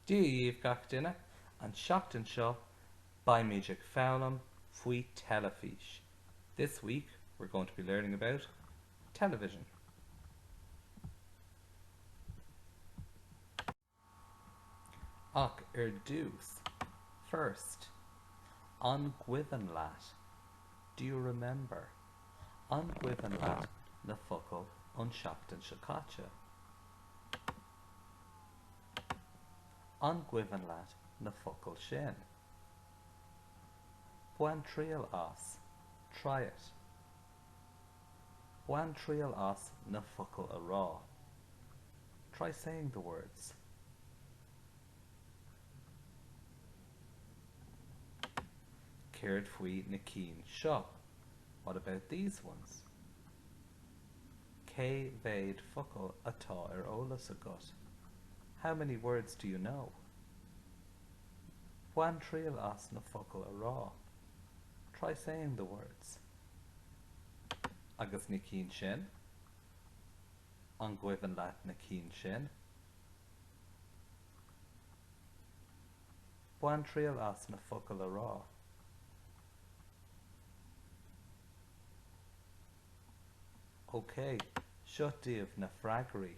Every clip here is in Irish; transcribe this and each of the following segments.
Dia dhaoibh gach duine, an tseachtain seo beimid ag foghlaim faoi teilifís This week we're going to be learning about television. Ach ar dtús first An gcuimhin leat? Do you remember? An gcuimhin leat na focail ón tseachtain seo caite? An gcuimhin leat na focail sin? Bain triail as, try it. Bain triail as na focail a rá, try saying the words. Céard faoi na cinn seo? What about these ones? Cé mhéad focal atá ar eolas agat? How many words do you know? Bain triail as na focail a rá. Try saying the words. Agus na cinn sin? An gcuimhin leat na cinn sin? Bain triail as na focail a rá. OK, seo daoibh na freagraí,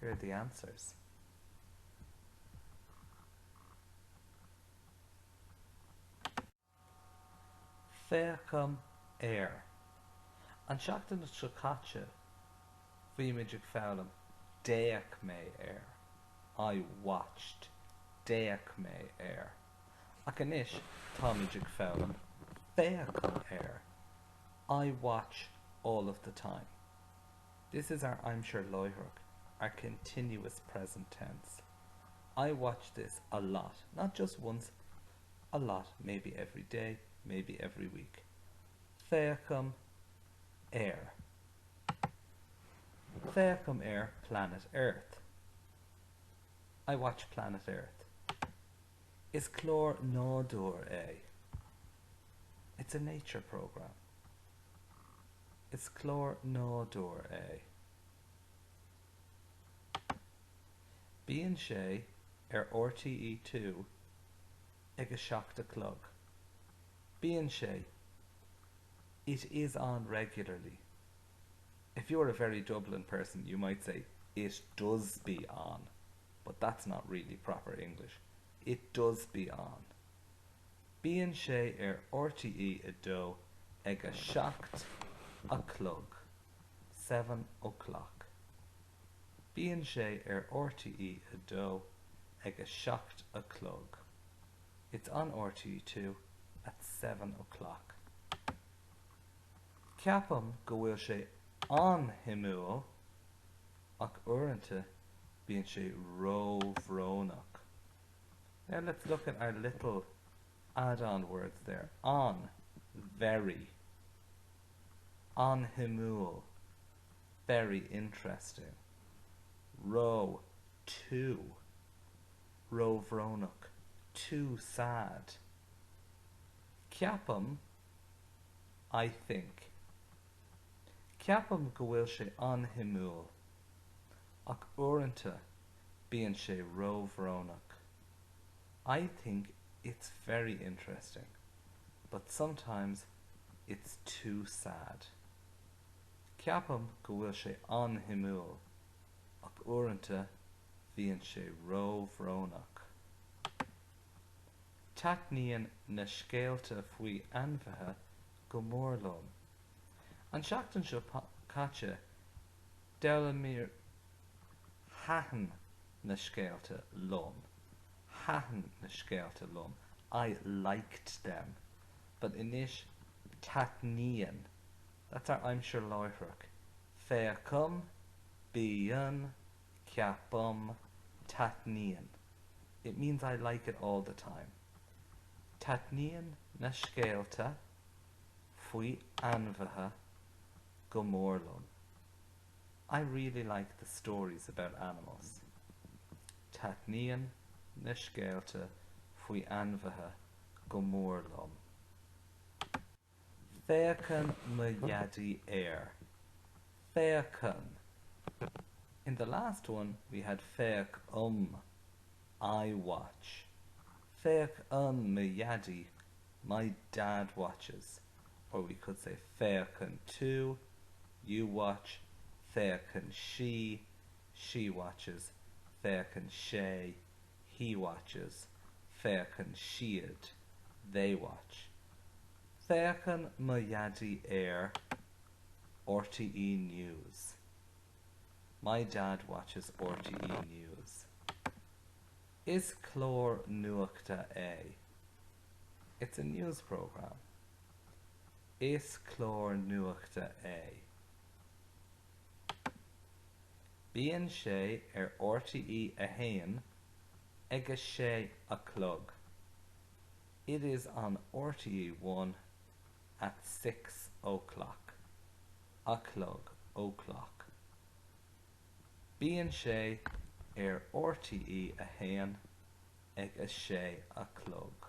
Here are the answers. Féachaim ar. An tseachtain seo caite bhí muid ag foghlaim D'fhéach mé ar. I watched. D'fhéach mé ar. ach anois táimid ag foghlaim féachaim ar I watch all of the time This is our aimsir láithreach our continuous present tense I watch this a lot, not just once, a lot, maybe every day, maybe every week féachaim ar féachaim ar planet Earth. I watch Planet Earth. Is clár nádúir é. It's a nature programme. Is clár nádúir é. Bíonn sé ar RTE Two ag a seacht a chlog. Bíonn sé It is on regularly. If you are a very Dublin person you might say It does be on but that's not really proper English. It does be on. Bíonn sé ar rte 2 ag a seacht a chlog, seven o'clock. Bíonn sé ar rte 2 ag a seacht a chlog. It's on rte 2 at seven o'clock. Ceapaim go bhfuil sé an-shuimiúil ach uaireanta bíonn sé ró-bhrónach. Now let's look at our little add-on words there, an, very, an-shuimiúil, very interesting, ró, too, ró-bhrónach, too sad, Ceapaim I think. Ceapaim go bhfuil sé an-shuimiúil, ach uaireanta bíonn sé ró-bhrónach. I think it's very interesting, but sometimes it's too sad. Ceapaim go bhfuil sé an-shuimiúil, ach uaireanta bíonn sé ró-bhrónach. Taitníonn na scéalta faoi ainmhithe go mór liom. An tseachtain seo caite d'fhoghlaimíomar Thaitin na scéalta liom Thaitin na scéalta liom I liked them but anois taitníonn That's our aimsir láithreach Féachaim Bíonn Ceapaim, Taitníonn. It means I like it all the time. Taitníonn na scéalta faoi ainmhithe go mór liom. I really like the stories about animals. Taitníonn na scéalta faoi ainmhithe go mór liom. Féachann mo dhaidí air. Féachann. In the last one we had féachaim I watch. Féachann mo dhaidí My dad watches. Or we could say Féachann tú You watch. Féachann sí She watches. Féachann sé he watches féachann siad they watch féachann mo dhaidí ar RTE News my dad watches RTE News is clár nuachta é it's a news programme is clár nuachta é. Bíonn sé ar RTE a haon ag a sé a chlog. It is on RTE One at six o'clock. a chlog, o'clock. Bíonn sé ar RTE a haon ag a sé a chlog.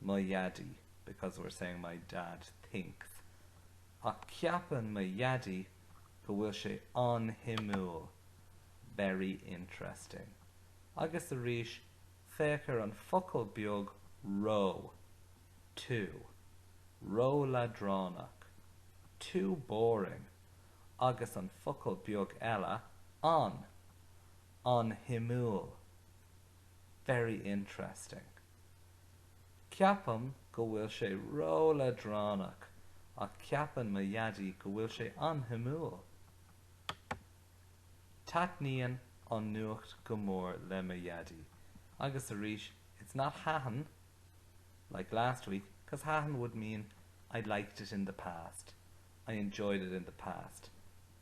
mo dhaidí because we're saying my dad thinks ach ceapann mo dhaidí go bhfuil sé an-shuimiúil very interesting agus arís féach ar an focal beag ró too ró-leadránach too boring agus an focal beag eile an, an-shuimiúil very interesting. Ceapaim go bhfuil sé ró-leadránach ach ceapann mo dhaidí go bhfuil sé an-shuimiúil. Taitníonn an nuacht go mór le mo dhaidí agus arís it's not thaitin like last week cos thaitin would mean I liked it in the past, I enjoyed it in the past.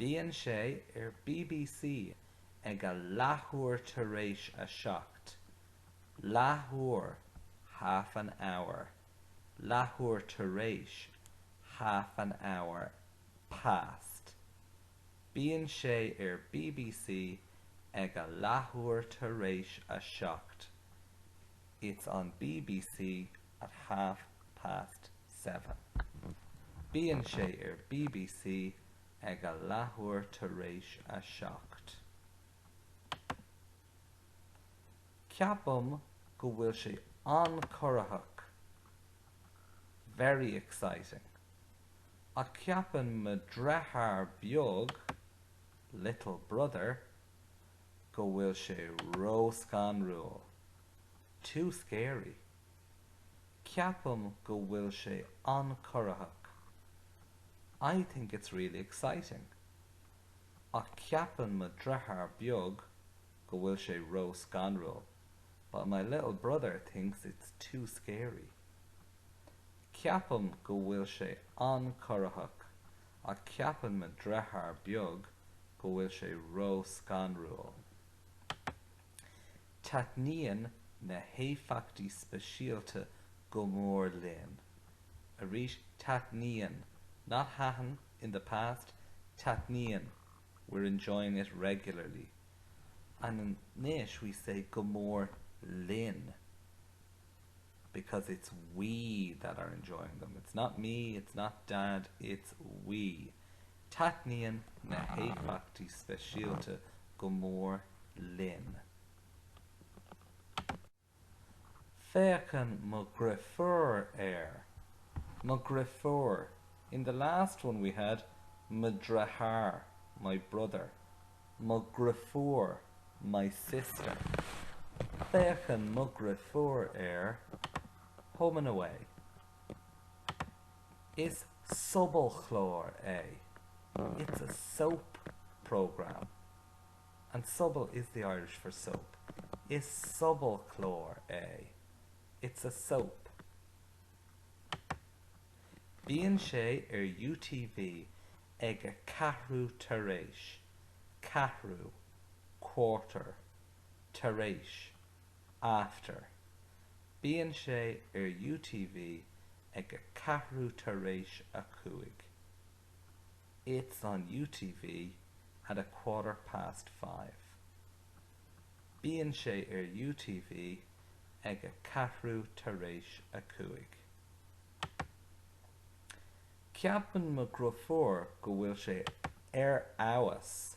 Bíonn sé ar bbc ag a leathuair tar éis a seacht. Leathuair, half an hour. Leathuair tar éis, half an hour past. Bíonn sé ar bbc ag a leathuair tar éis a seacht. It's on bbc at half past seven. Bíonn sé ar bbc ag a leathuair tar éis a seacht. Ceapaim go bhfuil sé an-corraitheach, very exciting. Ach ceapann mo dheartháir beag, little brother, go bhfuil sé ró-scanrúil, too scary. Ceapaim go bhfuil sé an-corraitheach. I think it's really exciting. Ach ceapann mo dheartháir beag go bhfuil sé ró-scanrúil, but my little brother thinks it's too scary. Ceapaim go bhfuil sé an-corraitheach, ach ceapann mo dheartháir beag go bhfuil sé ró-scanrúil. Taitníonn na héifeachtaí speisialta go mór linn. arís taitníonn, not thaitin in the past, taitníonn we're enjoying it regularly and anois we say go mór linn because it's we that are enjoying them, it's not me, it's not dad, it's we. Taitníonn na héifeachtaí speisialta go mór linn. Féachann mo dheirfiúr ar. Mo dheirfiúr, in the last one we had mo dheartháir, my brother. Mo dheirfiúr, my sister. Féachann mo dheirfiúr ar home and away. Is sobalchlár é. It's a soap programme. And sobal is the Irish for soap. Is sobalchlár é. It's a soap. Bíonn sé ar UTV ag a ceathrú tar éis. ceathrú, quarter. Tar éis, after, Bíonn sé ar UTV ag a ceathrú tar éis a cúig. It's on UTV at a quarter past five. Bíonn sé ar UTV ag a ceathrú tar éis a cúig. Ceapann mo dhriofúr go bhfuil sé ar fheabhas.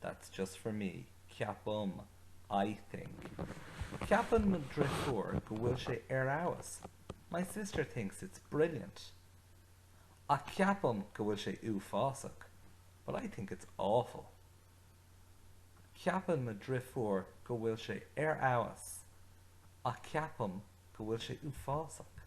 That's just for me, ceapaim, I think. Ceapann mo dhriofúr go bhfuil sé ar fheabhas, my sister thinks it's brilliant. Ach ceapaim go bhfuil sé uafásach, but I think it's awful. Ceapann mo dhriofúr go bhfuil sé ar fheabhas, ach ceapaim go bhfuil sé uafásach.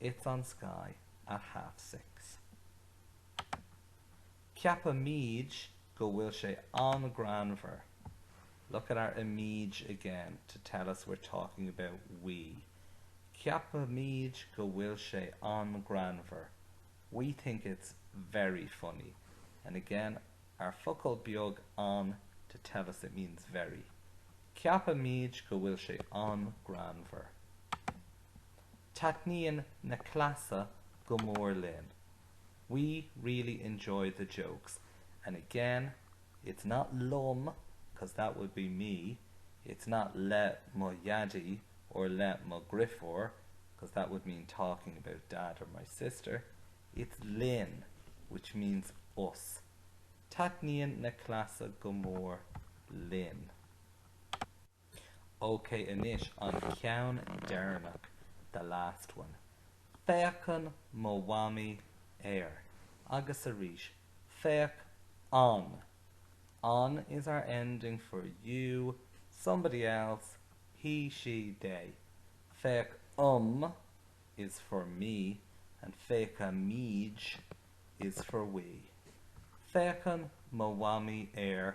It's on Sky at half six. Ceapaimid go bhfuil sé an-greannmhar. Look at our imid again to tell us we're talking about we. Ceapaimid go bhfuil sé an-greannmhar We think it's very funny. And again, our focal beag an to tell us it means very. Ceapaimid go bhfuil sé an-greannmhar. Taitníonn na cleasa go mór linn, we really enjoy the jokes, and again it's not liom cos that would be me, it's not le mo dhaidí or le mo dhriofúr cos that would mean talking about dad or my sister, it's linn which means us. Taitníonn na cleasa go mór linn. Ok anois an ceann deireanach, the last one. Féachann mo mhamaí ar. Agus arís, féachann. Ann is our ending for you, somebody else, he, she, they. Féachaim is for me and féachaimid is for we. Féachann mo mhamaí ar.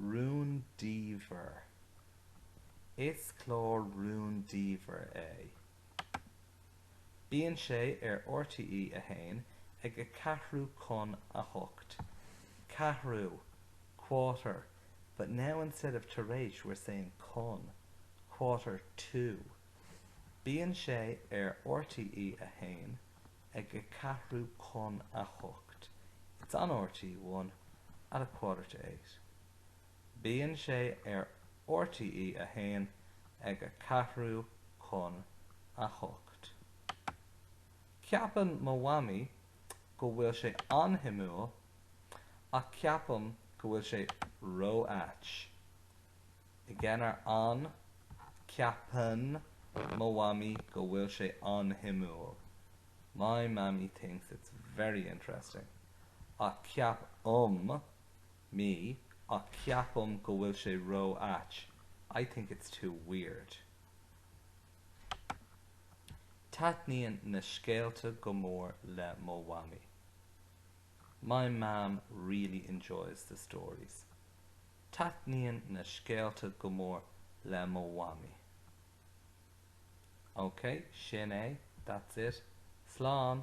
rúndiamhair. Is clár rúndiamhair é. Bíonn sé ar RTE 1 ag a ceathrú chun a hocht. Ceathrú, quarter, but now instead of tar éis we're saying chun, quarter to. Bíonn sé ar RTE 1. ag a ceathrú chun a hocht It's on RTÉ One at a quarter to eight Bíonn sé ar RTÉ a hAon ag a ceathrú chun a hocht Ceapann mo mhamaí go bhfuil sé an-shuimiúil ach ceapaim go bhfuil sé ró-ait. Again, ceapann mo mhamaí go bhfuil sé an-shuimiúil My mammy thinks it's very interesting ach ceapaim mé ach ceapaim go bhfuil sé ró ait I think it's too weird Taitníonn na scéalta go mór le mo mhamaí My mam really enjoys the stories Taitníonn na scéalta go mór le mo mhamaí. Ok, sin é, that's it. Slán!